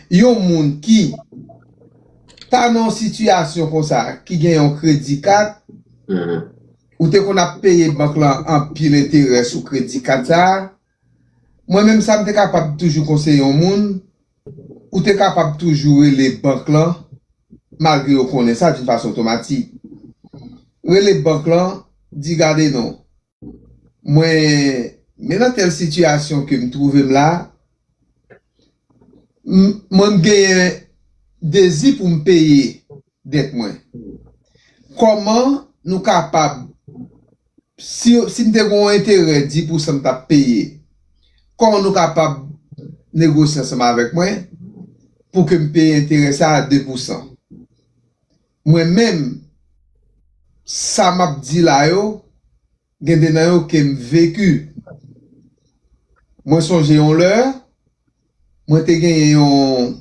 Yon moun ki ta nan yon sitiyasyon konsa, ki gen yon kredi kat, ou te konn ap peye bank lan anpil enterè sou kredi kat sa, mwen menm sa m te kapab toujou konseye yon moun, ou te kapab toujou rele bank lan, malgre yo konnen sa doun fason otomatik. Rele bank lan, di gade non, Mwen men nan tèl sitiyasyon ke m twouve m la, m mwen m genyen dezi pou m peye dèt mwen. Kòman nou kapab, si si m te gen yon enterè 10 pou san m t ap peye, kòman nou kapab negosye ansanm avèk mwen pou ke m peye enterè sa a 2 pou san? Mwen menm sa map di la yo gen de nan yo kem veki mwen sonje yon lè mwen te genyen yon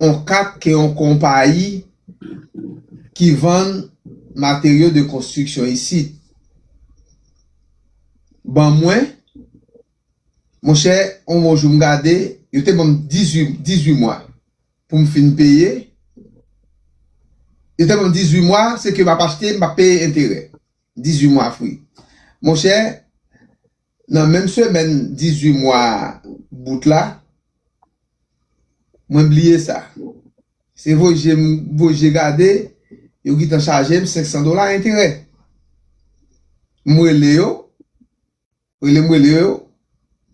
yon kat ke yon konpayi ki vann materyo de konstriksyon isit ban mwen monchè yon bon jou m gade yo te banm 18 mwa. pou m fin peye, li te ban m 18 mwa, se ke m ap achte, m ap peye enterè. 18 mwa fri. Monchè, nan menm semèn 18 mwa bout la, mwen bliye sa. Se voye m voye je gade, yo gentan chaje m 500 dola enterè. M rele yo. Rele m rele yo,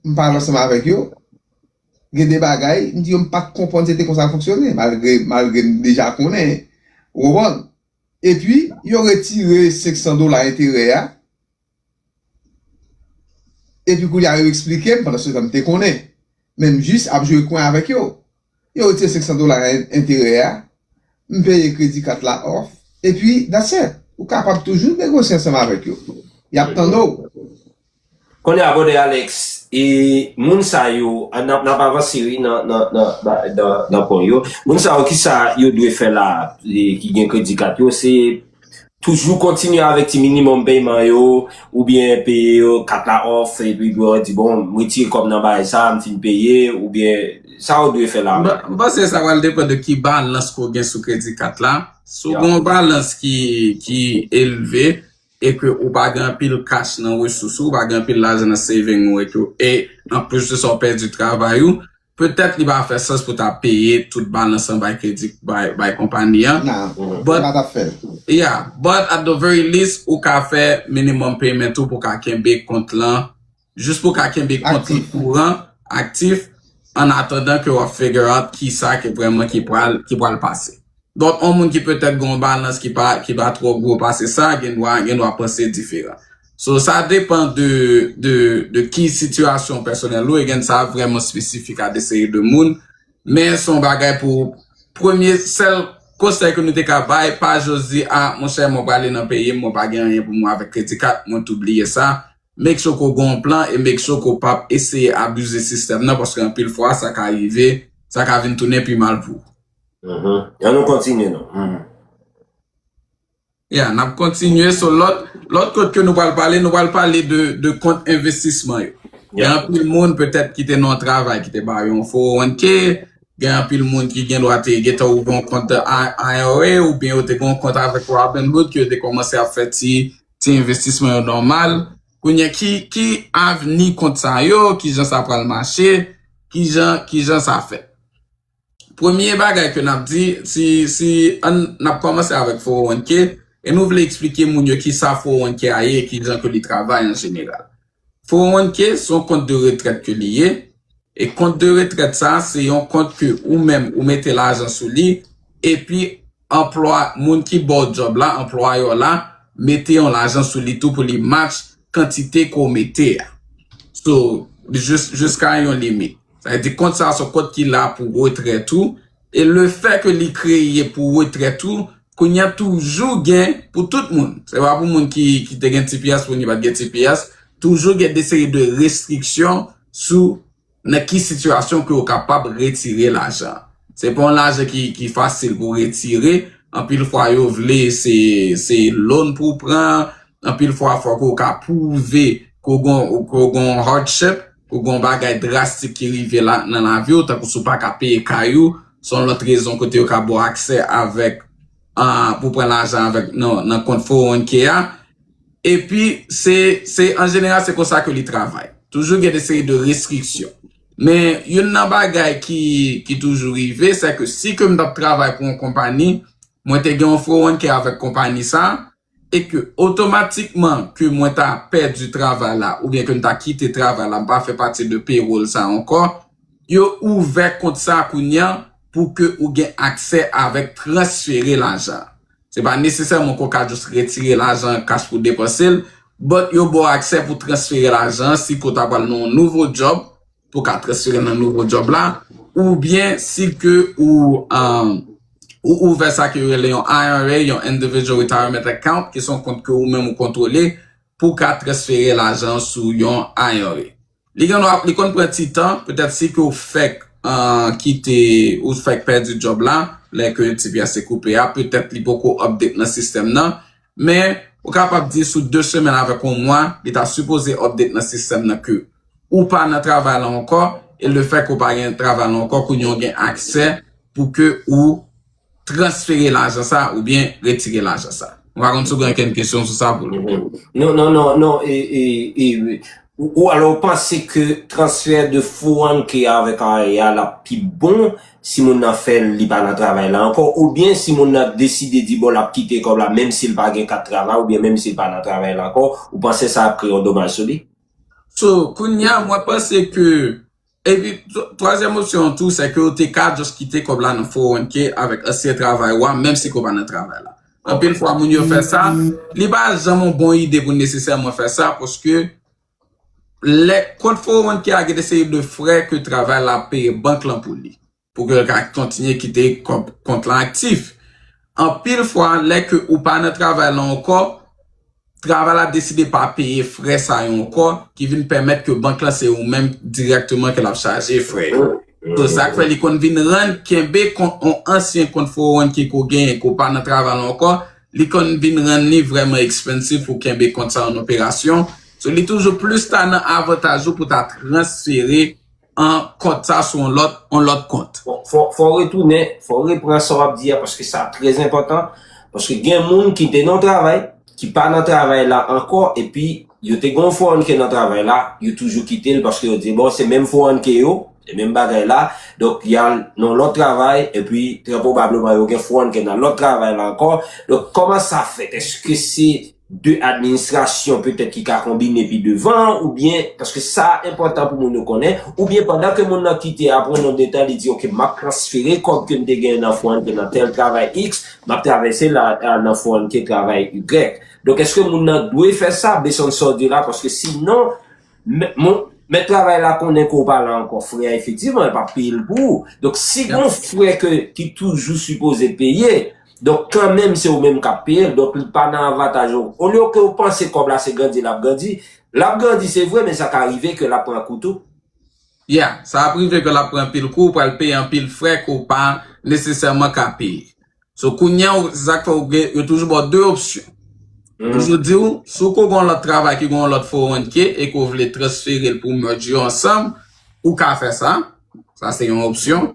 m pale ansanm avèk yo. Gen de bagay, m di yo m pa t konprann se te konsa l fonksyone malgre malgre m deja konnen. Ou konprann? Epi, yo retire 500 dola enterè a. Epi kounye a yo esplike m, pandansyetan m te konnen. Men m jis ap jwe kwen avèk yo. Yo retire 500 dola enterè a, m peye kredi kat la off, epi that's it. Ou kapab toujou negosye ansanm avèk yo. Y ap tann ou. Kounye a brother Alex, e moun sa yo, n ap avanse wi nan pwen yo, moun sa yo kisa yo dwe fè la ki gen kredi kat yo, se Toujou kontinye avèk ti minimòm peyman yo oubyen peye yo kat la off epi pou yo di bon m retire kòb nan bagay sa m fin peye oubyen sa ou dwe fè la menm. M panse sa pral depan de ki balans ke w gen sou kredi kat la. Si w gen yon balans ki elve e ke ou pa gen anpil cash nan resous ou, ou pa gen anpil lajan nan saving ou e anplis de sa ou pèdi travay ou, Petèt li pa fè sans pou ta peye tout balans lan bay kredi bay konpani an. Nan, ou pa ta fè l. Yeah, but at the very least ou ka fè minimum payment ou pou ka kenbe kont lan, jis pou ka kenbe kont lan kouran, aktif, an atandan ke w ap figure out kisa ke vreman ki pral pase. Donk, yon moun ki petèt gen yon balans ki pa ki pa twò gwo pase sa gen dwa gen dwa panse diferan. So, sa depan de de de ki sitiyasyon pèsonèl ou e gen sa vrèman espesifik a de seri de moun. Men se yon bagay pou premye sèl konsèy ke nou te ka bay pa just di a monchè mwen prale nan peyi m mwen pa gen anyen pou mwen avèk kredi kat mwen tou bliye sa. Make sure ke w gen yon plan e make sure ke w pap eseye abize sistèm nan paske anpil fwa sa ka rive sa ka vin tounen pi mal pou ou. An nou kontinye non. Ya, n ap kontinye sou lòt, lòt kont ke nou pral pale, nou pral pale de, de kont envestisman yo. Gen anpil moun petèt ki te nan yon travay ki te ba yo yon 401 k, gen anpil moun ki gen dwa te gentan ouvri yon kont IRA oubyen yo te gen yon kont avèk Robinhood ke yo te kòmanse ap fè ti, ti envestisman yo nòmal. Kounye a, ki, ki avni kont sa yo, kijan sa pral mache, kijan, kijan sa fèt. premye bagay ke nap di, si ann nap kòmanse avèk 401k, e nou vle eksplike moun yo kisa 401k a ye e kijan ke li travay an jeneral. 401k se yon kont de retrèt ke li ye, e kont de retrèt sa a se yon kont ke ou menm ou mete lajan sou li, epi anplwa moun ki baw djòb la, anplwayè w la, mete yon lajan sou li tou pou li match. kantite ke w mete a. So, jiska yon limit. Sa vle di kont sa se yon kont ki la pou retrèt ou e le fè ke li kreye pou retrèt ou, kounye a toujou gen pou tout moun. Se pa pou moun ki te gen tps, moun ki pa t gen tps. Toujou gen de seri de restriksyon sou Nan ki sitiyasyon ke ou kapab retire lajan? Se pa yon lajan ki fasil pou retire, anpil fwa yo vle se loan pou w pran, anpil fwa fò ke w ka pwouve ke w gen yon hardship, ke w gen yon bagay drastik ki rive nan lavi w, tankou si w pa ka peye kay ou, se yon lòt rezon kote yo ka ba w aksè avèk pou pran lajan avèk nan kont 401k a. Epi, se, se, an jeneral se konsa ke li travay. Toujou gen de seri de restriksyon. Men, youn nan bagay ki, ki toujou rive, se ke si ke m t ap travay pou yon konpani, mwen te gen yon fowonke avèk konpani sa a, e ke otomatikman ke mwen ta pèdi travay la, oubyen ke m ta kite travay la, m pa fè pati de payroll sa a ankò, yo ouvè kont sa a kounye a pou ke ou gen aksè avèk transfere lajan. Se pa nesesèman ke w ka just retire lajan an cash pou w depanse l, but yo ba w aksè pou w transfere lajan an si ke w ta pral nan yon nouvo job, pou w ka transfere l nan nouvo job la, oubyen si ke ou ouvè sa ke yo rele yon IRA, yon Individual Retirement Account, ki se yon kont ke ou menm ou kontwole, pou w ka transfere lajan an sou yon IRA. Li gen dwa, li konn pran ti tan, petèt si ke w fèk kite, ou fèk pèdi djòb la, lè ke tps te koupe a, petèt li poko update nan sistèm nan, men ou kapab di sou 2 semèn avèk yon mwa, li ta sipoze update nan sistèm nan ke ou pa nan travay la ankò, e le fèt ke w pa gen travay la ankò, kounye a w gen aksè pou ke ou. transfere lajan sa ou byen retire lajan sa. Mwen pa konn si w gen ankenn kesyon sou sa pou nou. Non, non, non, non, e, e, e, e, ou alò ou panse ke transfè de Fouanke avèk Aria l ap pi bon si moun nan fè l li pa nan travay la ankò ou byen si moun nan deside di bon l ap kite kòb la menm si l pa gen kat travay ou byen menm si l pa nan travay la ankò ou panse sa ap kreye yon domaj sou li? So, kounya mwen panse ke. Epi twazyèm opsyon an tou, sèke ou te ka just kite kòb la nan 401k avèk ansyen travay ou a, menm si ke ou pa nan travay la. Anpil fwa moun yo fè sa, li pa janm yon bon ide pou nesesèman fè sa, paske lè kont 401k a gen de seri de frè ke travay la ap peye bank lan pou li. pou ke l ka kontinye kite kòb kont lan aktif. Anpil fwa, lè ke ou pa nan travay lan ankò, travay la deside pa peye frè sa yo ankò, ki vin pèmèt ke bank lan se ou menm dirèkteman ke l ap chaje frè yo. Se sa k fè li konn vin rann kenbe kont yon ansyen kont 401K ke w genyen, ke w pa nan travay lan ankò, li konn vin rann li vrèman ekspansif pou w kenbe kont sa yo an operasyon. So li toujou plis ta nan avantaj ou pou ta transfere 1 kont sa sou yon lòt kont. Fò w retounen, fò w repran sa w ap di a paske sa trè zenpòtan. Paske gen moun ki te nan yon travay, ki pa nan travay la ankò epi yo te gen yon 401k nan travay la, yo toujou kite l paske yo di bon se menm 401k yo, se menm bagay la, donk y al nan yon lòt travay epi trè pwobableman yo gen 401k nan lòt travay la ankò. Donk kòman sa fèt? Èske se 2 administrasyon petèt ki ka konbine pi devan an oubyen, paske sa enpòtan pou moun yo konnen, oubyen pandan ke moun nan kite apre yon nonb de tan li di ok map transfere kòb kem te genyen nan fon an ki nan tèl travay X map travèse la nan fon an ki travay Y. Donk eske moun nan dwe fè sa base on sa w di la paske si non mèt travay la konnen ke w pa la ankò frè a efektivman yo pap peye l pou ou. Donk si gon frè ke ki toujou sipoze peye Donk kanmenm se ou menm kap peyel donk li pa nan avataj ou olye ke ou panse kob la se grandi lap grandi lap grandi se vre men sa ka rive ke lap pran kou tou. Yeah, sa ap rive ke lap pran anpil kou ou pral peye anpil frè ke ou pa nesesèman ka peye so kounya ou se sak fè ou gen yo toujou baw 2 opsyon yo toujou diw si ou ko gen yon lòt travay ki gen yon lòt 401k e ke ou vle transferel pou merge yo ansanm ou ka fè sa sa se yon opsyon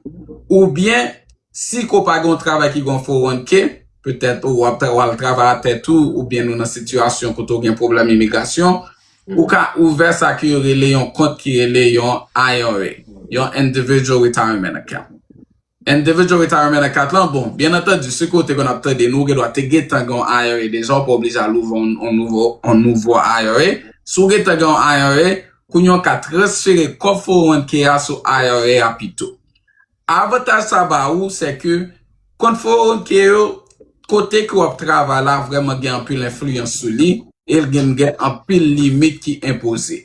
oubyen Si ko pa gen yon travay ki gen yon fo ranke, petèt ou ap travay a tèt ou oubyen nou nan sitiyasyon kote ou gen pwoblèm imigrasyon, ou ka ouvè sa ke yo rele yon kont ki rele yon IRA, yon Individual Retirement Account. Individual Retirement Account lan, bon, byen antandi, si ke ou te konn ap tande nou, ou gen dwa te gentan gen yon IRA deja, ou pa oblije al ouvè yon nouvo IRA. Si ou gentan gen yon IRA, kounye a ou ka transfere kòb fo ranke a sou IRA a pito. Avantaj sa ba ou se ke konformite yo kote ke w ap travay la vrèman gen anpil enfliyans sou li e l gen gen anpil limit ki enpoze.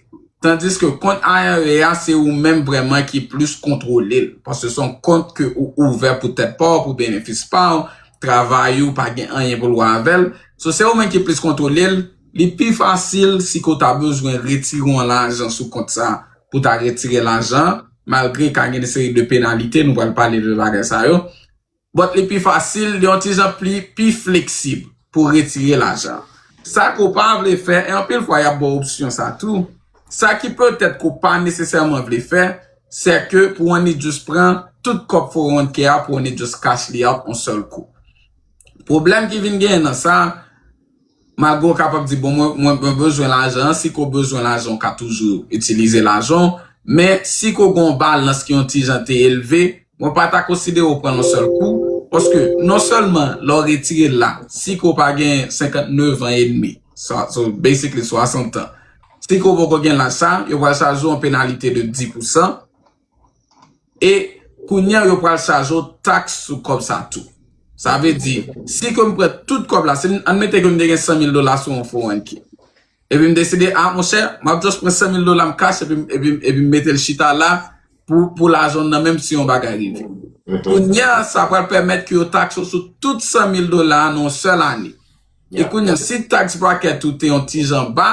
Tandis ke kont IRA a se ou menm vrèman ki plis kontwole l paske se yon kont ke ou ouvè pou tèt pa w, pou benefis pa w, travay ou pa gen anyen pou l wè avè l. So se ou menm ki plis kontwole l, li pi fasil si ke w ta bezwen retire yon lajan sou kont sa pou w ta retire lajan. malgre ka gen yon seri de penalite, nou pral pale de bagay sa yo, but li pi fasil, li yon ti jan pli, pi fleksib pou retire lajan. Sa ke w pa vle fè, e anpil fwa y ap ba w opsyon sa tou, sa ki petèt ke w pa nesesèman vle fè, sè ke pou w annik just pran tout kòb 401k a, pou w annik just cash li out yon sèl kou. Pwoblèm ki vin genyen nan sa, Mago kapab di bon mwen mwen bezwen lajan an, si ke w bezwen lajan w ka toujou itilize lajan w, men si ke w gen yon balans ki yon ti jan te elve, mwen pa ta konsidere w pran l yon sèl kou, paske non sèlman lè w retire l la, si ke w pa gen 59 an edmi, sa so basically 60 tan, si ke w poko gen laj sa, yo pral chaje w yon penalite de 10 pousan. E kounya yo pral chaje w taks sou kòb sa tou. Sa vle di, si ke m pran tout kòb la, si admete ke m te gen 100 mil dola sou yon 401k. Epi m deside, a monchè, m ap just pran 100 mil dola m cash epi m mete l chita la pou lajan nan menm si yon bagay rive. Kounya sa pral pèmèt ke yo taks ou sou tout 100 mil dola nan yon sèl ane. E kounya si taks bracket ou te yon ti jan ba,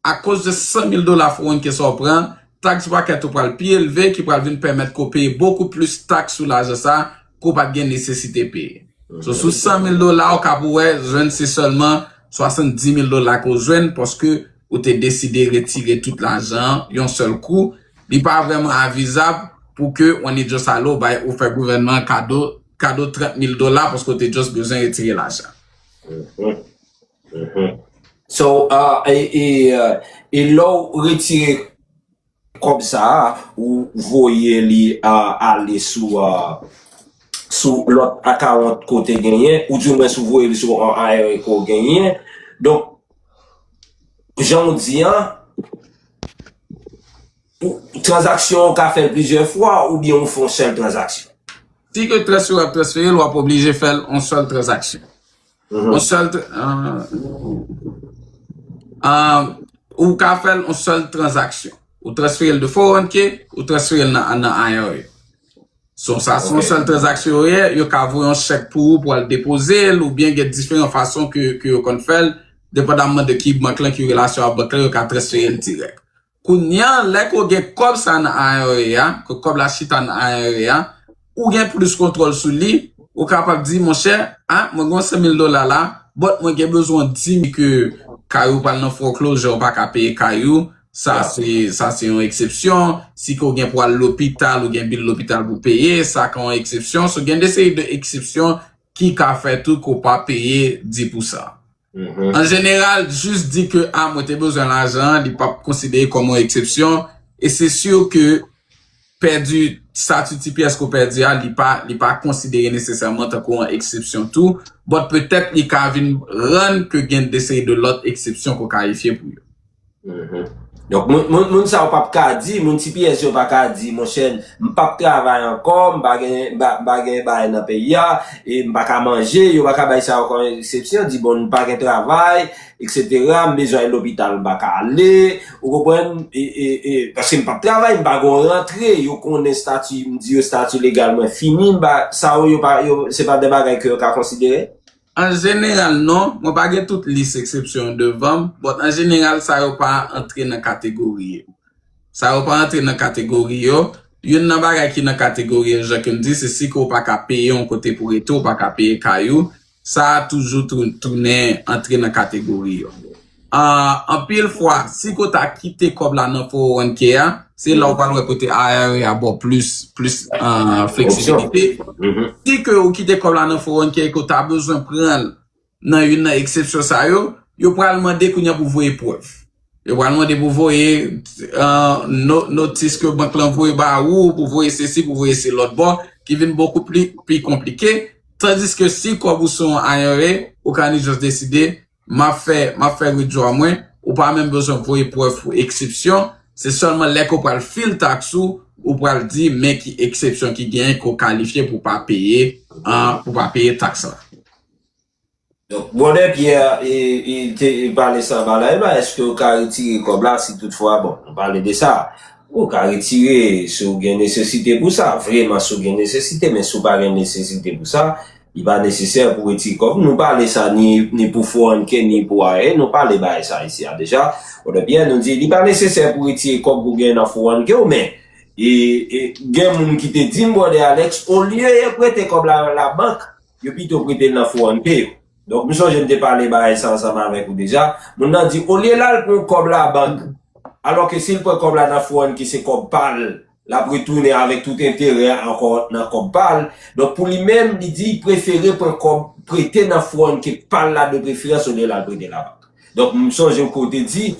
Akoz de 100 mil dola 401k sa w pran, taks bracket ou pral pi elve ki pral vin pèmèt ke w peye bokou plis taks sou lajan sa ke w pa t gen nesesite peye. So sou 100 mil dola w ka pou wè jwenn se sèlman 70 mil dola ke w jwenn paske ou te deside retire tout lajan an yon sèl kou. Li pa vrèman avizab pou ke w annik just ale w bay ou fè gouvènman an kado kado 30 mil dola paske w te just bezwen retire lajan. So, e lè w retire kòb sa a, ou voye li ale sou lòt akawont ke w te genyen, ou di mwen si w voye li sou yon IRA ke w genyen. Donk, jan w di an, tranzaksyon ou ka fè l plizyè fwa oubyen ou fè yon sèl tranzaksyon. Si ke transfè w ap transfere l, w ap oblije fè l yon sèl tranzaksyon. On sèl ou ka fèl on sèl transaksyon. Ou transfere l de 401k, ou transfere l nan IRA. Son sa son sèl transaksyon ou ye, yo ka voye on chèk pou ou pou al depoze l ou byen gen diferan fason ke yo konn fèl, depandanman de ki bank lan ki relasyon a bank lan yo ka transfere l dirèk. Kounya lè ke w gen kòb sa nan IRA a, ke kòb la chita nan IRA a, ou gen plis kontwòl sou li, ou kapab di monchè, a mwen gen yon 100 mil dola la, but mwen gen bezwen w di m ke kay ou pral nan foreclosure ou pa ka peye kay ou, sa se sa se yon eksepsyon, si ke w gen pou al lopital ou gen bil lopital pou w peye, sa ka yon eksepsyon, so gen de seri de eksepsyon ki ka fè tou ke w pa peye 10 pou sa. An jeneral, jis di ke a mwen te bezwen lajan an li pap konsidere kòm yon eksepsyon e se si ke pèdi stati ti pyès ke w pèdi a li pa konsidere nesesèman tankou yon eksepsyon tou bòt petèt li ka vin rann ke gen deseri de lòt eksepsyon ke w kalifye pou yo. Donk moun sa yo pap ka di, moun tps yo pa ka di monchè m pap travay ankò, m pa gen m pa gen bagay nan peyi a, e m pa ka manje, yo pa ka bay sa yo kòm eksepsyon, di bon m pa gen travay, eksetera, m bezwen al lopital m pa ka ale, ou konprann, e paske m pap travay, m pa gon rantre, yo konnen estati, m di yo estati legal mwen fini, m pa, sa yo yo pa, se pa de bagay ke yo ka konsidere? An jeneral non, mwen pa gen tout lis eksepsyon yo devan m, but an jeneral sa yo pa antre nan kategori yo. Sa yo pa antre nan kategori yo, youn nan bagay ki nan kategori yo jan ke m di se si ke w pa ka peye yon kote pou rete, w pa ka peye kay ou, sa a toujou tounen antre nan kategori yo. Anpil fwa, si ko ta kite kòb la nan 401k a, se la ou pral wè kote IRA a ba w plis fleksibilite. Si ke ou kite kòb la nan 401k e ke ou ta bezwen pran l nan youn nan eksepsyon sa yo, yo pral mande kounye a pou voye prèv. Yo pral mande pou voye notis ke bank lan voye ba ou, pou voye sesi, pou voye se lòt bon, ki vin bokou pi konplike. Tandiske si kòb ou se yon IRA, ou ka ni jòs deside. Map fè map fè wi dwa mwen ou pa menm bezwen voye prèv pou eksepsyon se sèlman lè ke w pral fil taks ou ou pral di men ki eksepsyon ki genyen ke w kalifye pou w pa peye pou w pa peye taks la. Donk brother Pierre e te pale sa ba la e ba eske ou ka retire kob la si tout fwa bon nou pale de sa ou ka retire si ou gen nesesite pou sa vreman si ou gen nesesite men si ou pa gen nesesite pou sa Li pa nesesè pou retire kò. Nou pale sa ni pou Fohanke ni pou Aye. Nou pale bagay sa isi a deja. Wode Pyè nou di li pa nesesè pou retire kòb pou gen nan Fohanke w men gen moun ki te di m Wode Alex olye yo prete kòb la nan labank yo pito prete l nan Fohanke yo. Donk m sonje m te pale bagay sa ansanm avèk ou deja. Moun nan di olye l al pran kòb labank alò ke si l pran kòb la nan Fohanke se kòb pa l. L ap retounen avèk tout enterè a ankò nan kòb pa l. Donk pou li menm, li di li prefere pran kòb prete nan fwon ke pa l la depreferans olye l al prete labank. Donk m sonje ou ke w te di,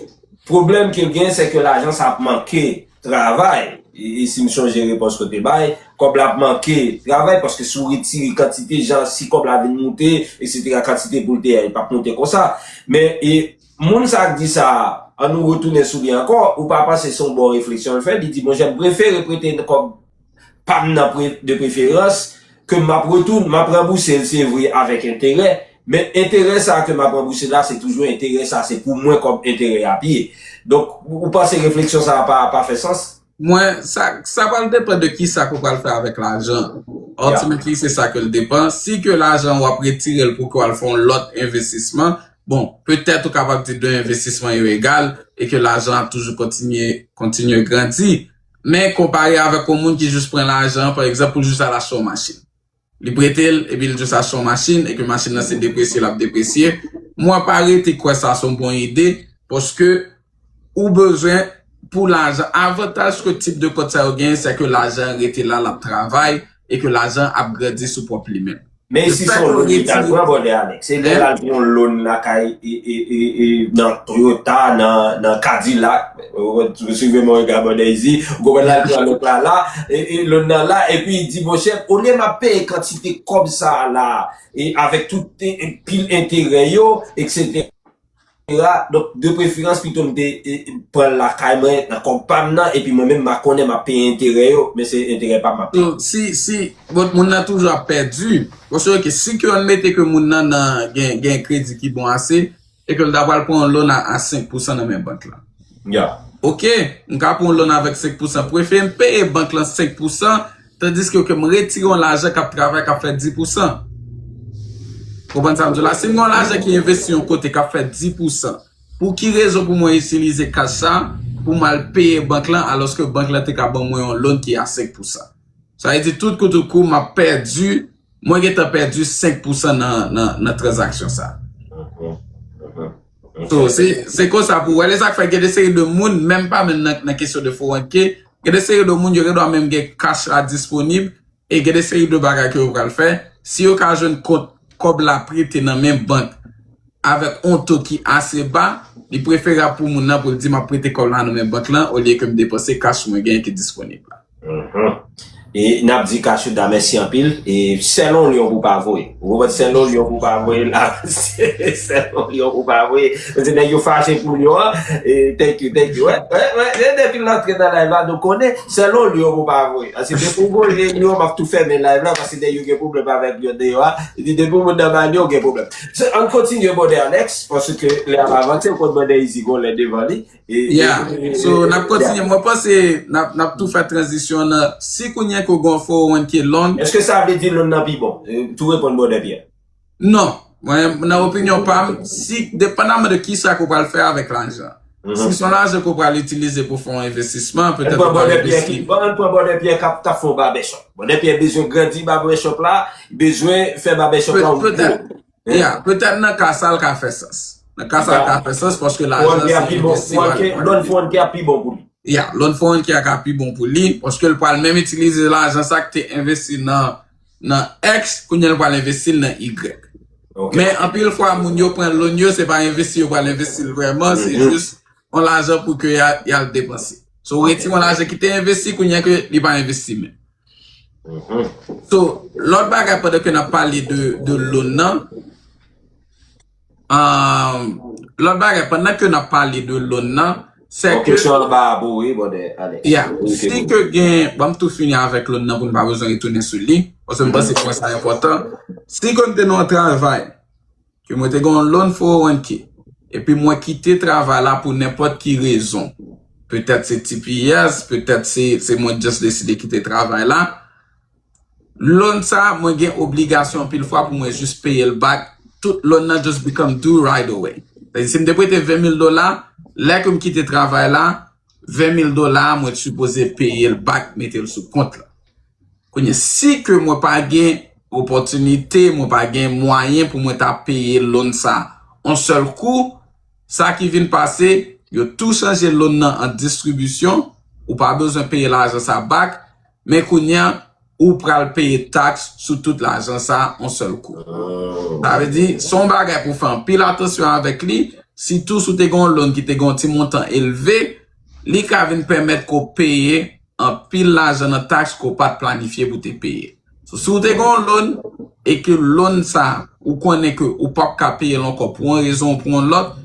pwoblèm ke l genyen se ke lajan sa ap manke travay, e si m sonje repons ke w te bay, kòb la ap manke travay paske si w retire kantite jan si kòb la vin moute eksetera kantite pou l te a li p ap moute konsa. Men e. Moun sa k di sa a, an nou retounen sou li ankò, ou pa panse se yon bon refleksyon l fè? Li di, bon jèm prefere prete kòb pa m nan de preferans, ke m ap retoun, m ap ranbouse l se vre avèk enterè, men enterè sa a ke m ap ranbouse la se toujou enterè sa a se pou mwen kòb enterè a ap ye. Donk, ou panse refleksyon sa a pa fè sans? Mwen, sa pral depan de ki sa ke w pral fè avèk lajan. Ultimately, se sa ke l depan. Si ke lajan an w ap retire l pou ke w al fè yon lòt envestisman, bon, petèt ou kapab di 2 envestisman yo egal e ke lajan an ap toujou kontinye, kontinye grandi. Men konpare avèk yon moun ki jis pran lajan an, pa egzanp, pou jis al achte yon machin. Li prete l, epi l di w sa se yon machin e ke machin nan se depresye l ap depresye. Mwen pa rete kwè sa se yon bon ide paske ou bezwen pou lajan. Avantaj ke tip de kont sa yo genyen se ke lajan an rete la, l ap travay e ke lajan an ap grandi sou pwòp li menm. Men e si se yon loan li ta l pran brother Alex? E lè l al pran yon loan lakay nan Toyota, nan Cadillac? Suivez-moi et abonnez-y. Ou konprann la, l pran lòt la la, e lòt nan la, epi l di monchè, olye m ap peye kantite kòb sa a la, e avèk tout pil enterè yo, eksetera, donk de preferans pito m te pran l lakay mwen nan kòb pa m nan, epi mwen menm m a konnen m ap peye enterè yo, men se enterè pa m m ap peye. Si, si, bon, moun nan toujou ap pèdi. Monchè, ok, si ke an mete ke moun nan nan gen kredi ki bon ase, E ke l ta pral pran yon loan a a 5 pousan nan men bank lan. Ya. Ok, m ka pran yon loan avèk 5 pousan. Prefere m peye bank lan 5 pousan, tandiske ke m retire yon lajan k ap travay, k ap fè 10 pousan. Ou konprann sa m di w la? Si m gen yon lajan ki envesti yon kote k ap fè 10 pousan, pou ki rezon pou mwen itilize kach sa pou m al peye bank lan alòske bank lan te ka ban mwen yon loan ki a 5 pousan? Sa vle di tout kout ou kou m ap pèdi. Mwen gentan pèdi 5 pousan nan transaction sa. So se konsa pou wè li sak fè gen de seri de moun menm pa menm nan kesyon de foranke gen de seri de moun yo gen dwa menm gen cash la disponib e gen de seri de bagay ke yo pral fè si yo ka jwenn kont kòb la prete nan men bank avèk on to ki ase ba li preferab pou moun nan pou l di map prete kòb la nan men bank lan olye ke m depanse cash mwen gen ki disponib la. E nap di Cachuda mèsi anpil e sèl on lyon pou pa voye ou konprann sèl on lyon pou pa voye la sèl on lyon pou pa voye paske nèg yo fache pou lyon an e thank you thank you wè wè e depi l antre nan live la nou konnen sèl on lyon pou pa voye paske depi ou voye lyon map tou fèmen live la paske nèg yo gen pwoblèm avèk lyon deyò a epi depi ou nan manno ou gen pwoblèm ann kontinye brother Alex paske lè ap avanse ou konn brother Izi gon lè devan li. Ya, so nap kontinye, mwen panse nap tou fè tranzisyon nan, si kounye ke w gen yon 401 ki long. Eske sa vle di long nan pi bon? Tou reponn Brother Pierre. Non, mwen nan opinyon pa m, si depandaman de kisa ke w pral fè avèk lajan. Si son lajan ke w pral itilize pou fè yon envestisman, petèt ou pral envesti. Bon, ann pran Brother Pierre kap fè yon barbèchòp. Brother Pierre bezwen grandi barbèchòp la, bezwen fè barbèchòp la yon gwo. Ya, petèt nan ka sa l ka fè sans. Nan ka sa l ka fè sans paske lajan se yon investi wal pran. Loan Foreign Care pi bon pou li. Ya, Loan Foreign Care ka pi bon pou li paske l pral menm itilize lajan sa ki te envesti nan X, kounye a l pral envesti l nan Y. Men anpil fwa moun yo pran loan yo se pa envesti yo pral envesti l vrèman, se jis yon lajan pou ke y al depanse. So w retire yon lajan ki te envesti kounye a ke li pa envesti menm. So, lòt bagay pandan ke nap pale de loun nan, lòt bagay pandan ke nap pale de loun nan, se ke... Kesyon an ba a pou ou, bòdè, ale. Ya, si ke gen, banm tou fini avèk loun nan pou nou pa bezwen retounen sou li, paske m panse pwen sa enpòtan. Si ke nou te nan yon travay, ke mwen te gen yon loan 401k epi mwen kite travay la pou nenpòt ki rezon, petèt se tps, petèt se mwen just deside kite travay la, loan sa mwen gen obligasyon anpil fwa pou mwen just peye l back, tout loan nan just become due right away. Sa di si m te prete 20 mil dola, lè ke m kite travay la, 20 mil dola a mwen t sipoze peye l back mete l sou kont la. Kounye, si ke mwen pa gen opòtinite, mwen pa gen mwayen pou mwen ta peye loan sa on sèl kou, sa ki vin pase, yo tou chanje loan nan an distribisyon, ou pa bezwen peye lajan sa back, men kounye a, ou pral peye tax sou tout lajan sa on sèl kou. Sa vle di, se yon bagay pou fè anpil atansyon avèk li, sitou si w te gen yon loan ki te gen yon ti montan elve, li ka vin pèmèt ke w peye. anpil lajan nan taks ke w pat planifye pou te peye. So si w te gen yon loan e ke loan sa ou konnen ke ou pap ka peye l ankò pou yon rezon ou pou yon lòt,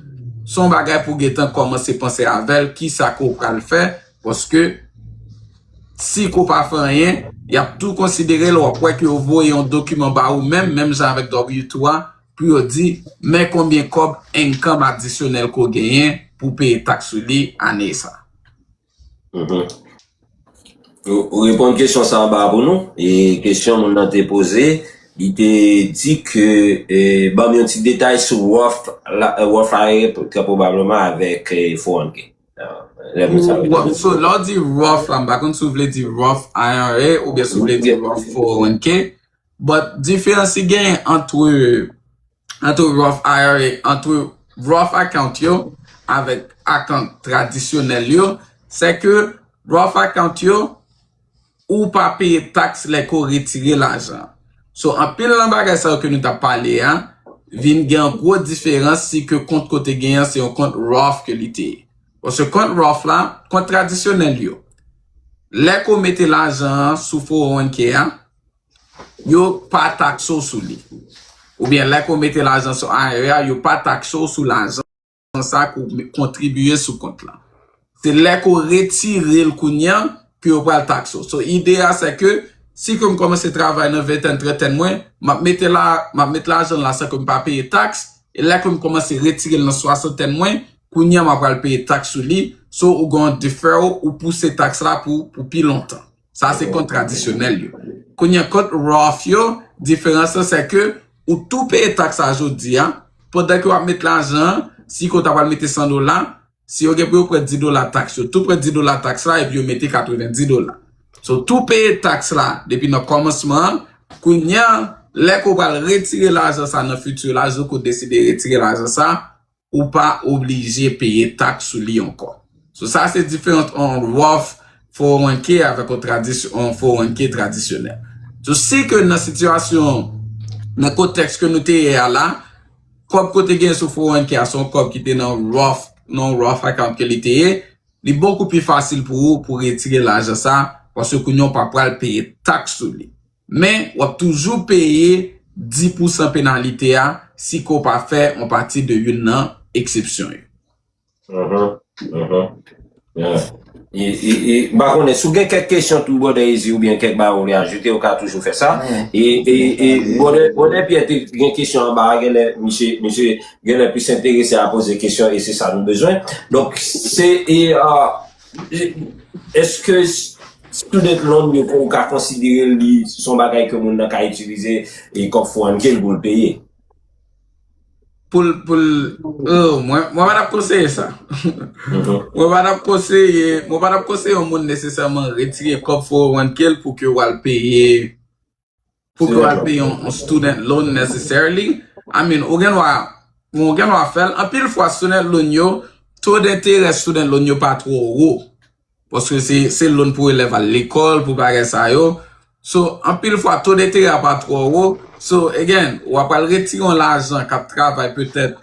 se yon bagay pou w gentan kòmanse panse avè l kisa ke w pral fè paske si ke w pa fè anyen yap tou konsidere l wap wè ke yo voye yon dokiman ba ou menm, menm jan avèk W2 a pou yo di men konbyen kòb income adisyonèl ke w genyen pou w peye taks sou li ane sa. Ou reponn kesyon sa anba a pou nou. E kesyon moun nan te poze, li te di ke ban m yon ti detay sou Warfare trè pwobableman avèk 400K. So lè w di Roth la, m pa konn si w vle di Roth IRA oubyen si w vle di Roth 401K. But diferans ki genyen antre antre Roth IRA, antre Roth account yo avèk account tradisyonèl yo, sè ke Roth account yo ou pa peye tax lè ke w retire lajan. So anpil nan bagay sa yo ke nou tap pale a vin gen yon gwo diferans si ke kont ke w te gen an se yon kont Roth ke li te ye. Paske kont Roth la, kont tradisyonèl yo, lè ke w mete lajan an sou 401k a, Yo pa takse w sou li. Oubyen lè ke w mete lajan sou IRA, yo pa takse w sou lajan sa ke w kontribye sou kont lan. Se lè ke w retire l kounye an ke yo pral takse w. So, ide a se ke si ke m kòmanse travay nan ventèn, trantèn mwen, m ap mete la, m ap mete lajan la san ke m pa peye taks, e lè ke m kòmanse retire l nan swasantèn mwen, kounye an m apral peye taks sou li. So, ou gen yon deferral, ou pouse taks la pou pi lontan. Sa se kont tradisyonèl yo. Kounye kont Roth yo, diferans lan se ke ou tou peye taks sa jodi a, pandan ke wap met lajan an, si ke ou ta pral mete 100 dola, si yo gen pou yo pran 10 dola taks, yo tou pran 10 dola taks la epi yo mete 90 dola. So ou tou peye taks la depi nan kòmansman an, kounye a lè ke ou pral retire lajan sa nan futur la, jou ke ou deside retire lajan sa, ou pa oblije peye taks sou li ankò. So sa se diferans an Roth 401k avèk yon tradisyon an 401k tradisyonèl. So si ke nan sitiyasyon nan kontèks ke nou te ye a la, kòb ke w te gen sou 401k a se yon kòb ki te nan Roth nan yon Roth account ke li te ye, li bokou pi fasil pou ou pou retire lajan sa paske kounye a w pa pral peye taks sou li. Men, w ap toujou peye 10 pousan penalite a si ke w pa fè yon pati de youn nan eksepsyon yo. M pa konnen, si w gen kèk kesyon tou Brother Eazy oubyen kèk bagay ou vle ajoute, ou ka toujou fè sa. E Brother Pierre te gen kesyon anba a, genlè misye, misye genlè plis enterese a poze kesyon e se sa nou bezwen. Donk, se Eske student loan yo ou ka konsidere li son bagay ke moun nan ka itilize e kòb fwàn ke l pou l peye? Pou l, pou l, oh, mwen pa tap konseye sa. Mwen pa tap konseye, mwen pa tap konseye yon moun nesesèman retire kòb fowonwann ke l pou ke w al peye. Pou ke w al peye yon student loan necessarily. I mean, ou gen dwa, bon ou gen dwa fè l. Anpil fwa student loan yo, to denterè student loan yo pa twò wo. Paske se loan pou elèv al lekòl, pou bagay sa yo. So, anpil fwa to denterè a pa twò wo. So, again, w apral retire yon lajan k ap travay petèt.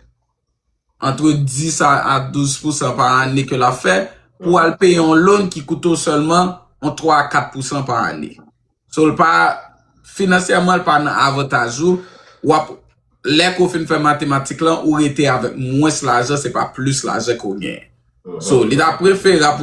antre 10 a 12 pousan pa ane ke l ap fè pou al peye yon loan ki koute w sèlman yon 3 a 4 pousan pa ane. So l pa, finansyèman l pa nan avantaj ou, w ap, lè ke w fin fè matematik lan, ou rete avèk mwens lajan, se pa plis lajan ke w genyen. So, li ta preferab pou.